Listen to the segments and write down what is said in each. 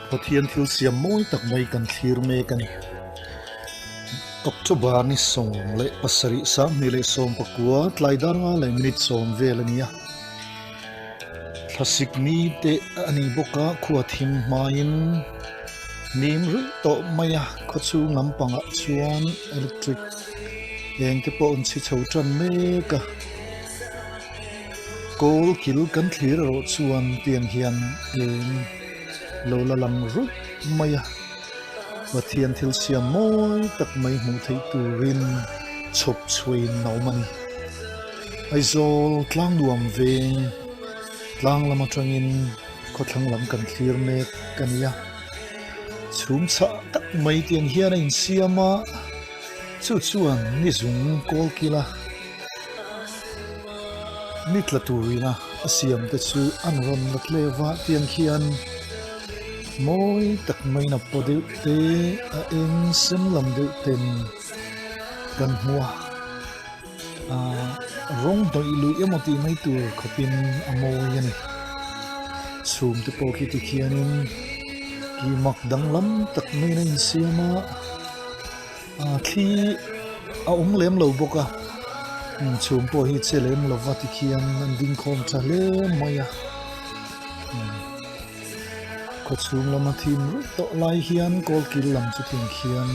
Pathian thil siam mawi tak mai kan thlir mek a ni. October ni sawm leh pasarih Samhnih leh Sawmpakua tlaidar nga leh minute sawm vel a ni a. Thlasik ni te a ni bawk a, khua thim hmain nim ruih tawh mai a, khawchhung lampangah chuan electric eng te pawh a rawn chhi chho tan mek a. Kawl kil kan thlir erawh chuan tiang hian eng lo la lang ruih mai a, Pathian thil siam mawi tak mai hmuh theih turin chhawp chhuain a awm a ni. Aizawl tlang nuam ve tlang lam atangin khawthlang lam kan thlir mek a nia, chhum chah tak mai tiang hian a insiam a, chu chuan nizung kawl kila. Ni tla turina a siam te chu an rawn la tleva tiang khian mawi tak mai na pawh deuh te a eng sem lam deuh ten kan hmu a, aah rawng hnawih luih emaw tih mai tur khawpin a mawi a ni. Chhum te pawh khi tikhianin kimak danglam tak maiin a insiam a. Ahh thli hi a awm lem lo bawk a, inchhum pawh hi che lem lo va tikhian an ding khawm tha hle mai a, khawchhung lama thim ruih tawh lai hian kawl kil lam chu thim khian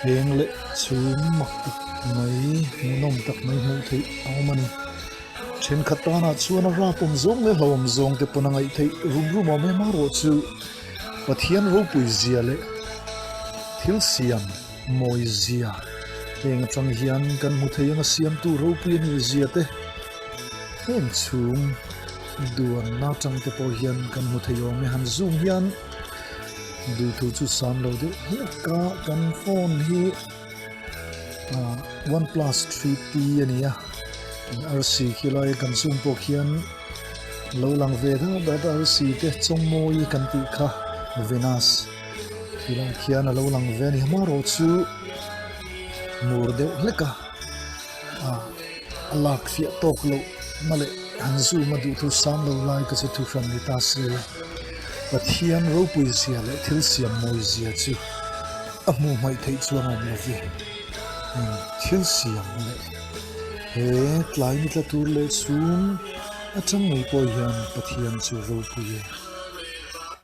heng leh chhum mak tak mai nawm tak mai hmuh theih a awm a ni, thenkhat tan ah chuan a rapawm zawng leh hlauhawm zawng te pawn a ngaih theih rum rum awm em a rawh chu. Pathian ropui zia leh thil siam mawi zia heng atang hian kan hmu thei anga siamtu ropui a nih zia te heng chhum duanna atang te pawh hian kan hmu thei awm e. Han zoom hian duhthû chu sâm lo deuh hek a, kan phone hi. one plus three p a ni a rc khi lai kan zoom pawh khian lo lang ve deuh deuh a rc te chawngmawii kan tih kha venus khi lai khian a lo lang ve a ni mahro chu mur deuh hlek a. a lak fiah tawk loh na leh an zoom a duh thu sang lo lai ka chu thu hran ni ta si a, Pathian ropui zia leh thil siam mawi zia chu a hmuh hmaih theih chu a ngawm lo i, thil siam leh he tlai ni tla tur leh chhum atang mai pawh hian Pathian chu ropui e.